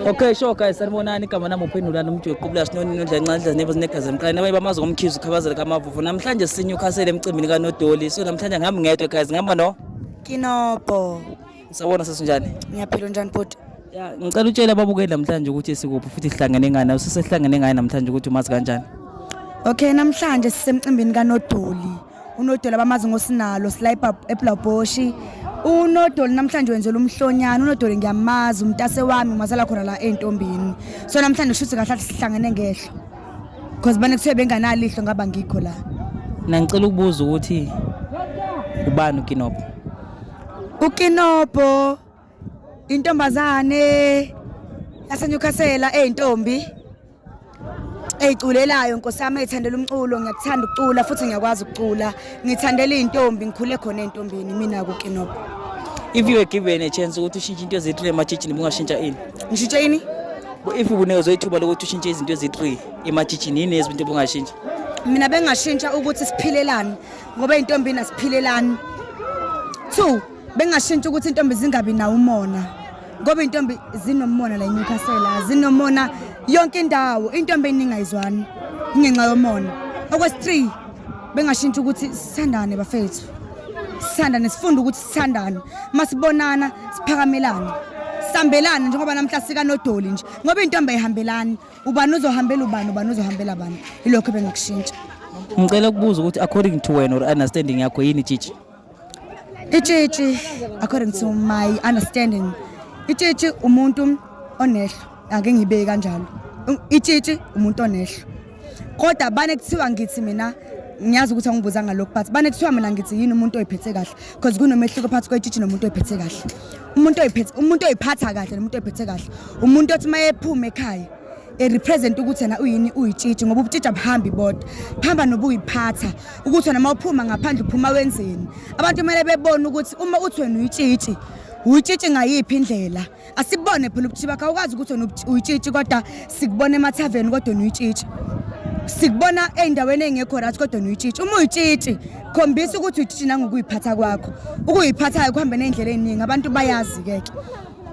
Okay sure guys sanibonani igama nami uphendula nomuntu yoqubula sinoni nodla incanhla nebo zinegazi emqaleni abanye bamazi ngomkhizi ukhabazela kamavuvu namhlanje sinye ukhasele emcimbini kanodoli so namhlanje ngihambi ngedwa guys ngihamba no Kinopo. Sawona sesinjani? Ngiyaphila unjani bhuti? Ya, ngicela utshele ababukeli namhlanje ukuthi sikuphi futhi sihlangene ngani, usesehlangene ngaye namhlanje ukuthi umazi kanjani. Okay, namhlanje sisemcimbini kaNodoli. unodoli abamazi ngosinalo silayipa eblaboshi unodoli namhlanje wenzela umhlonyana unodoli ngiyamazi umntase wami umazala khona la ey'ntombini so namhlanje kushuthi kahle athi sihlangene ngehlo because bane kuthiwe benganalihlo ngaba ngikho la mina ngicela ukubuza ukuthi ubani ukinobho ukinobho intombazane yaseNewcastle eyintombi eyiculelayo nkosi yami eyithandela umculo ngiyakuthanda ukucula futhi ngiyakwazi ukucula ngithandela izintombi ngikhule khona ezintombini mina ku Kinopo if you were given a chance ukuthi ushintshe into ezi-3 emajijini bungashintsha ini ngishintshe ini if ubunezo ithuba lokuthi ushintshe izinto ezi-3 emajijini yini ezinto bungashintsha mina bengashintsha ukuthi siphilelani ngoba ezintombini asiphilelani two bengashintsha ukuthi intombi zingabi nawo umona ngoba intombi zinomona la eNewcastle zinomona yonke indawo intombi eningayizwani ingenxa yomona okwesi-three bengashintsha ukuthi sithandane bafethu sithandane sifunde ukuthi sithandane uma sibonana siphakamelane sambelane njengoba namhla sikanodoli nje ngoba intombi ayihambelani ubani uzohambela ubani ubani uzohambela bani ilokho bengakushintsha ngicela ukubuza ukuthi according to wena or understanding yakho yini tshitshi Itshitshi according to my understanding itshitshi umuntu onehlo ake ngibeke kanjalo itshitshi umuntu onehlo kodwa bane kuthiwa ngithi mina ngiyazi ukuthi angibuza ngalokhu but bane kuthiwa mina ngithi yini umuntu oyiphethe kahle because kunomehluko phakathi kwetshitshi nomuntu oyiphethe kahle umuntu oyiphethe umuntu oyiphatha kahle nomuntu oyiphethe kahle umuntu othi uma ephuma ekhaya erepresent ukuthi yena uyini uyitshitshi ngoba ubutshitshi abuhambi bodwa buhamba nobuyiphatha ukuthi wena uma uphuma ngaphandle uphuma wenzeni abantu kumele bebone ukuthi uma uthi wena uyitshitshi uyitshitshi ngayiphi indlela asibone phela ubutshitshi bakho awukwazi ukuthi wena uyitshitshi kodwa sikubona emathaveni kodwa wena uyitshitshi sikubona ey'ndaweni ey'ngekho right kodwa nuyitshitshi uma uyitshitshi khombisa ukuthi uyitshitshi nangokuyiphatha kwakho ukuyiphathayo kuhambe ney'ndlela ey'ningi abantu bayazi-ke ke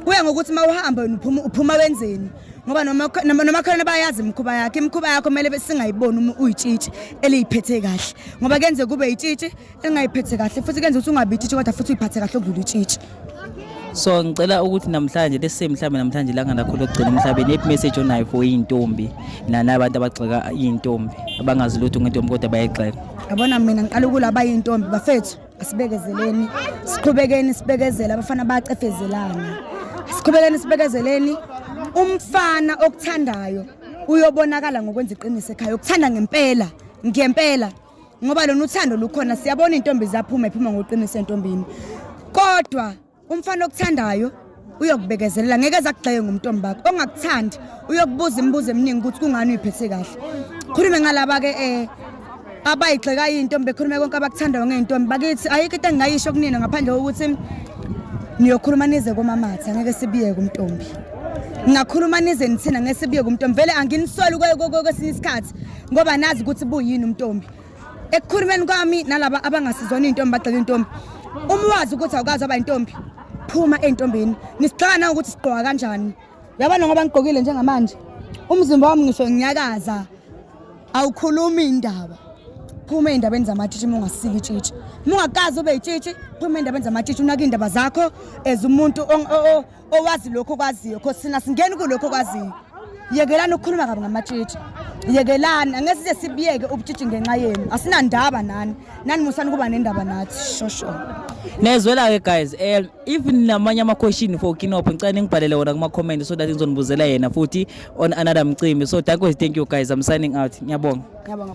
kuya ngokuthi uma uhamba wena uphuma uphuma wenzeni ngoba nomakhelwane bayazi imikhuba yakhe imikhuba yakho kumele singayiboni uma uyitshitshi eliyiphethe kahle ngoba kenze kube yitshitshi elingayiphethe kahle futhi kenze ukuthi ungabi itshitshi kodwa futhi uyiphathe kahle okudlula itshitshi so ngicela ukuthi namhlanje lesi mhlawumbe namhlanje langa lakho lokugcina emhlabeni ephi message onayo for iy'ntombi nana abantu abagxeka iy'ntombi abangazi lutho ngentombi kodwa bayayigxeka yabona mina ngiqala ukulaba iy'ntombi bafethu Sibekezeleni, siqhubekeni sibekezela abafana bacefezelana. Siqhubekeni sibekezeleni umfana okuthandayo uyobonakala ngokwenza iqiniso ekhaya ukuthanda ngempela ngempela ngoba lona uthando lukhona siyabona intombi zaphuma iphuma ngoqiniso entombini kodwa umfana okuthandayo uyokubekezelela ngeke zakugxeke ngomntombi bakho ongakuthandi uyokubuza imibuzo eminingi ukuthi kungani uyiphethe kahle khulume ngalaba ke eh abayigxeka intombi bekhulume konke abakuthandayo ngeentombi bakithi ayikho into engingayisho kunina ngaphandle kokuthi niyokhuluma nize komamatha ngeke sibiye kumntombi ngakhuluma nize nithina ngeke sibiye kumntombi vele anginisoli kwesinye isikhathi ngoba nazi ukuthi buyini umntombi ekukhulumeni kwami nalaba abangasizona iy'ntombi bagxeka intombi uma wazi ukuthi awukazi aba intombi phuma ey'ntombini nisixaka na ukuthi sigqoka kanjani yabona ngoba ngigqokile njengamanje umzimba wami ngisho ngiyakaza awukhulumi indaba phuma ey'ndabeni zamatshitshi uma ungasiki itshitshi uma ungakazi ube yitshitshi phuma ey'ndabeni zamatshitshi unake iy'ndaba zakho as umuntu owazi lokho kwaziyo cause sina singeni kulokho kwaziyo yekelani ukukhuluma kabi ngamatshitshi yekelani angeke size sibiyeke ubutshitshi ngenxa yenu asinandaba nani nani musani kuba nendaba nathi shosho nezwela-ke guys um if namanye ama-question for kinopho ngicela ningibhalele wona kuma-comment so that ngizonibuzela yena futhi on another mcimbi so dakwes thank you guys i'm signing out ngiyabonga ngiyabonga